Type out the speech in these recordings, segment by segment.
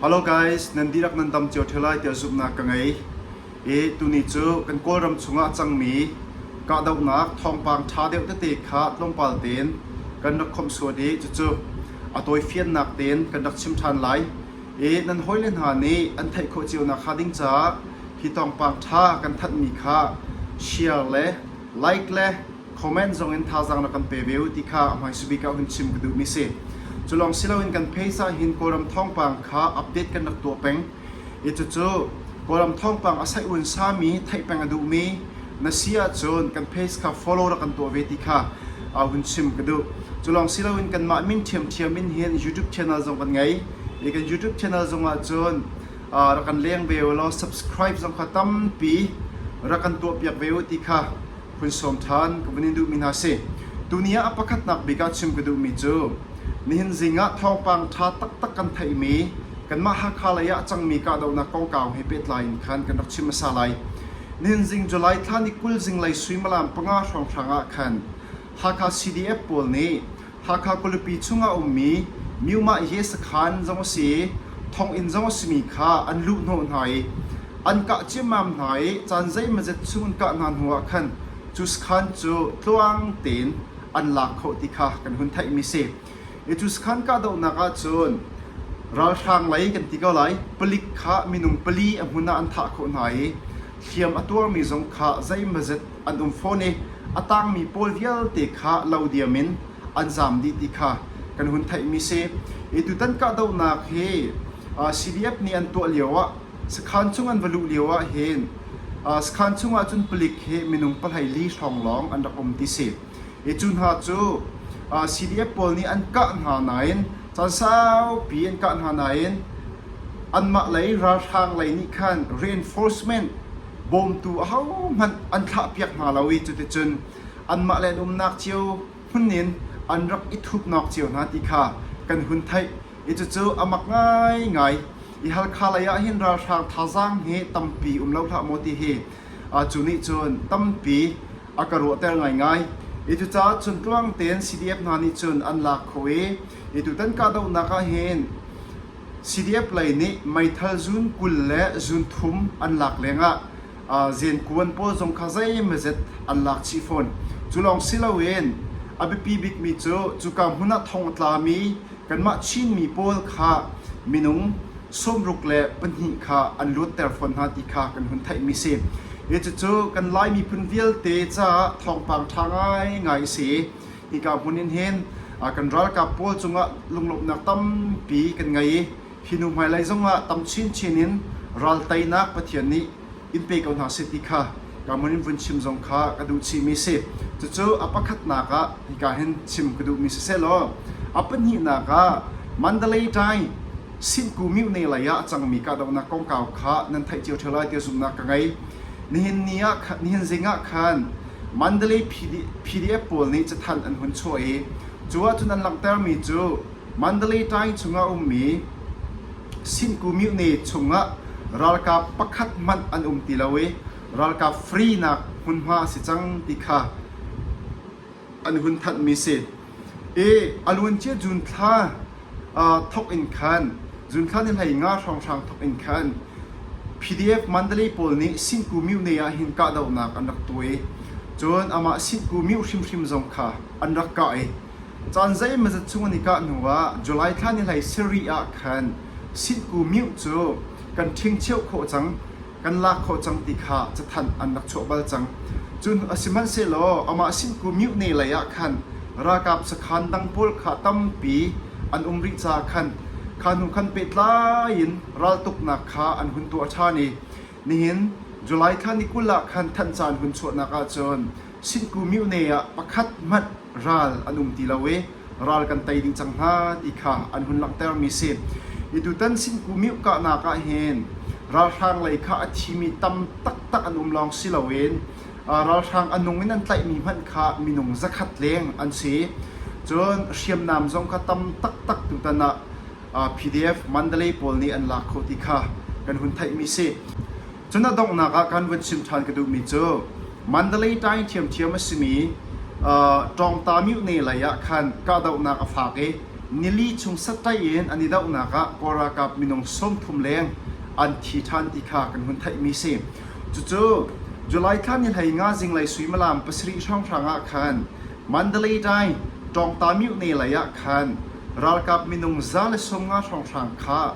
Hello guys, nan dihlak nan dam cio ṭheo lai tiah zumhnak ka ngei. I tuni cu kan Kawlram chungah cangmi kahdohnak thawngpang ṭha deuh tete kha tlawmpal tein kan rak khawmh sual i cucu a tawifiannak tein kan rak chim ṭhan lai. I nan hawile hna nih an theih khawh cio nakhnga ding caah hi thawngpang ṭha kan thanhmi kha share le like le comment zongin thazaang rak kan pe ve u ti kha a hmaisa bik ah hun chim ka duhmi si. Cu lawng si loin kan pheisa hin Kawlram thawngpang kha update kan rak tuah peng i cucu Kawlram thawngpang a saih uan sami theih peng a duhmi na si ahcun kan page kha follow rak kan tuah ve ti kha uh, hun chim ka duh. Cu lawng si loin kanmah min ṭhiamṭhiam in hin YouTube channel zong kan ngei i kan YouTube channel zongah cun uh, rak kan leng ve u law subscribe zong kha tampi rak kan tuahpiak ve u ti kha hun sawm ṭhan ka vun in duhmi hna si. Tuni ah a pakhatnak bik ah chim ka duhmi cu nihin zing ah thawngpang ṭha taktak kan theihmi kanmah Hakha lei ah a cangmi kahdohnak kongkau he pehtlai in khan kan rak chim hmasa lai. Nihin zing July thla ni kul zinglei suimilam panga hrawnghrang ah khan Hakha CDF pawl nih Hakha khualipi chungah a ummi Myumah Ye sakhan zong a si i thonginn zong a simi kha an luhhnawh hna i an kah ciammam hna i caan zeimazet chung an kah hna hnuah khan cu sakhan cu tluang tein an lak khawh ti kha kan hun theihmi a si. I cu sakhan kahdohnak ahcun ralhrang lei kan ti ko lai palik kha minung pali a hmun ah an thah khawh hna i hliam a tuarmi zong kha zeimazet an um fawn i a tangmi pawl vialte kha lo diam in an zam dih ti kha kan hun theihmi si. E, tutan kahdohnak hi CDF nih an tuah lioah sakhan chung an va luh lioah hin sakhan chungah cun palik he minung palhai li hrawng lawng an rak um ti si. E, cu hna cu CDF pawl nih an kah hna nain caan saupi an kah hna nain anmah lei ralhrang lei nih khan reinforcement bawmtu ahohmanh an thlahpiak hna lo i cuticun anmah le an umnak cio hmun in an rak i thupnawk cio hna ti kha kan hun theih i cucu a mak ngaingai i Halkha lei ah hin ralhrang thazaang hi tampi um lo hlah maw ti hi a cu nih cun tampi a ka ruahter ngaingai i cucaah cun tluang tein CDF hna nih cun an lak kho i i tutan kahdohnak ah hin CDF lei nih meithal zun kul le zun thum an lak lengah zenkuan pawl zong kha zeimawzet an lak chih fawn. Cu lawng si loin a biapi bikmi cu cuka hmun ah thong a tlami kanmah Chinmi pawl kha minung sawmruk le pahnih kha an luatter fawn hna ti kha kan hun theihmi a si. Cucu kan Lai miphun vialte caah thawngpang ṭha ngaingai a si i Hika hmun in hin kan ralkap pawl cungah lunglawmhnak tampi kan ngei i hi hnu hmailei zongah tam chinchin in ral teinak Pathian nih in pe ko hna seh ti kha ka hmun in vun chim zong kha ka duh chihmi a si. Cucu a pakhatnak ah hika hin chim ka duhmi sisehlaw a pahnihnak ah Mandalay-Dai Sinku Mutne lei ah a cangmi kahdohnak kongkau kha nan theih cio ṭheo lai tiah zumhnak ka ngei. Nihin ni ah nihin zingah khan Mandalay PDF pawl nih cathanh an hun chuah i cu ahcun an langhtermi cu Mandalay Times chungah a ummi Sinhkumyune chungah ralkap pakhat hmanh an um ti lo i ralkap free nak hmunhma a si cang ti kha an hun thanhmi a si. I a luancia Junthla thawk in khan Junthla nih hleinga hrawnghrang thawk in khan PDF Mandalay pawl nih Sinku Myu Ne ah hin kahdohnak an rak tuah i cun amah Sinku Myu hrimhrim zong kha an rak kah i caan zeimawzat chung an i kah hnuah July thla ni hlei sarih ah khan Sinku Myu cu kan ṭhingcheuh khawh cang. kan lak khawh cang ti kha cathanh an rak chuah bal cang. Cu hnu a si hmanhsehlaw amah sinku mihne lei ah khan ralkap sakhan dang pawl kha tampi an um rih caah khan kha hnu khan pehtlai in raltuknak kha an hun tuah ṭhan i nihin July thla ni kul ah khan thanh caan hun chuahnak ah cun sinku mihne ah pakhat hmanh ral an um ti lo i ral kan tei dih cang hna ti kha an hun langhtermi si. I tutan Sinku Myuh kahnak ah hin ralhrang lei kha a thimi tam taktak an um lawng si loin ralhrang a nung in an tlaihmi hmanh kha minung zakhat leng an si. Cun hriamnam zong kha tam taktak tutan ah PDF Mandalay pawl nih an lak khawh ti kha kan hun theihmi si. Cu na donghnak ah kan vun chim ṭhan ka duhmi cu Mandalay-Tyne ṭhiamṭhiam a simi ṭawngta myone lei ah khan kahdohnak a faak i nili chung saṭaih in an i dohnak ah Kawl ralkap minung sawmthum leng an thi ṭhan ti kha kan hun theihmi a si. Cucu July thla ni hlei nga zinglei suimilam pasarih hrawnghrang ah khan Mandalay-Tyne ṭawngta myone lei ah khan ralkap minung za le sawm nga hrawnghrang kha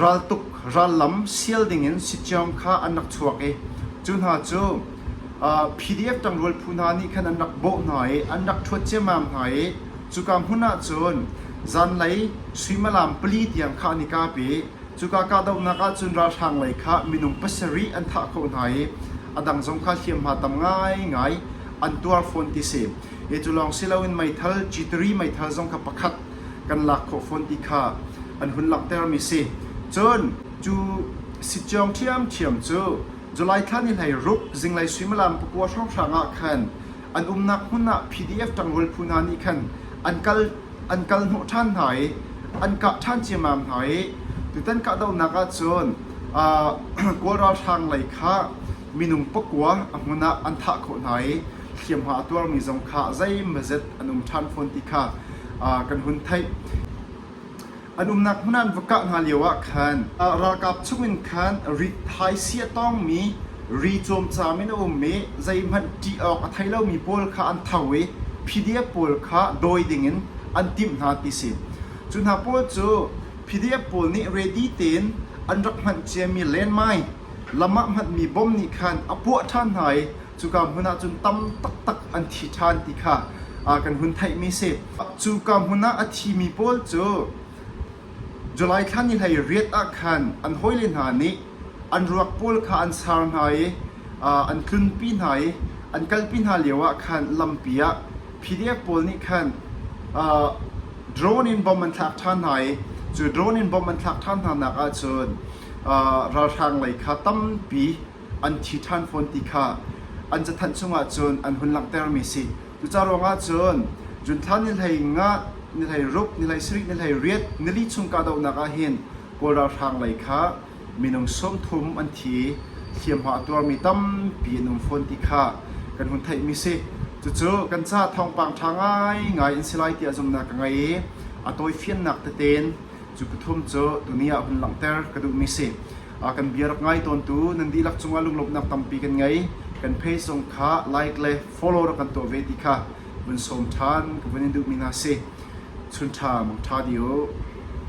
raltuk rallam sial dingin sitcam kha an rak chuak i cu hna cu PDF ṭangrual phu hna nih khan an rak bawh hna i an rak ṭhuat ciammam hna i cuka hmun ah cun zanlei suimalam pali tiang kha an i kap i cuka kahdohnak ah cun ralhrang lei kha minung pasarih an thah khawh hna i a dang zong kha hliamhma tam ngaingai an tuar fawn ti si. Cu lawng si loin meithal, G3 meithal zong kha pakhat kan lak khawh fawn ti kha an hun langhtermi si. Cun cu sittiong ṭhiamṭhiam cu July thla ni hleiruk zinglei suimilam pakua hrawnghrang ah khan an umnak hmun ah PDF ṭangrul phu hna nih khan an kal an kal hnawh ṭhan hna i an kah ṭhan ciammam hna i tutan kahdohnak ah cun Kawl ralhrang lei kha Minung pakua a hmun ah an thah khawh hna i hliamhma a tuarmi zong kha zeimazet an um ṭhan fawn ti kha kan hun theih. An umnak hmun ah an va kah hna lioah khan ralkap chungin khan ri thaisia tawngmi ri cawmcam in a um i zeihmanh ṭih awk a thei lomi pawl kha an tho i phidia pawl kha dawi dingin an timh hna ti si. Cu hna pawl cu phidia pawl nih ready tein an rak hmanh ciami lenmai Lam ah hmanmi bom nih khan a puah ṭhan hna i cuka hmun ah cun tam taktak an thi ṭhan ti kha kan hun theihmi a si. Cuka hmun ah a thimi pawl cu July thla ni hlei riat ah khan an hawile hna nih an ruak pawl kha an sar hna i an tlunpi hna i an kalpi hna lioah khan lampi ah PDF pawl nih khan drone in bom an thlak ṭhan hna i cu drone in bom an thlak ṭhan hnanak ahcun ralhrang lei kha tampi an thi ṭhan fawn ti kha an cathanh chungah cun an hun langhtermi a si. Cucaah ruangah cun junthla ni hlei nga, ni hlei ruk, ni hlei sarih, ni hlei riat, nili chung kahdohnak ah hin Kawl ralhrang lei kha minung sawm thum an thi i hliamhma a tuarmi tampi an um fawn ti kha kan hun theihmi a si. Cucu kan caah thawngpang ṭha ngaingai an si lai tiah zumhnak ka ngei i a tawifiannak tete in Cu pathum cu tuni ah hun langhter ka duhmi si. Kan bia rak ngai tawntu nan dihlak cungah lunglawmhnak tampi kan ngei. Kan page zong kha like le follow rak kan tuah ve ti kha vun sawm ṭhan ka vun in duhmi hna si. Chun ṭha, mawng ṭha di u.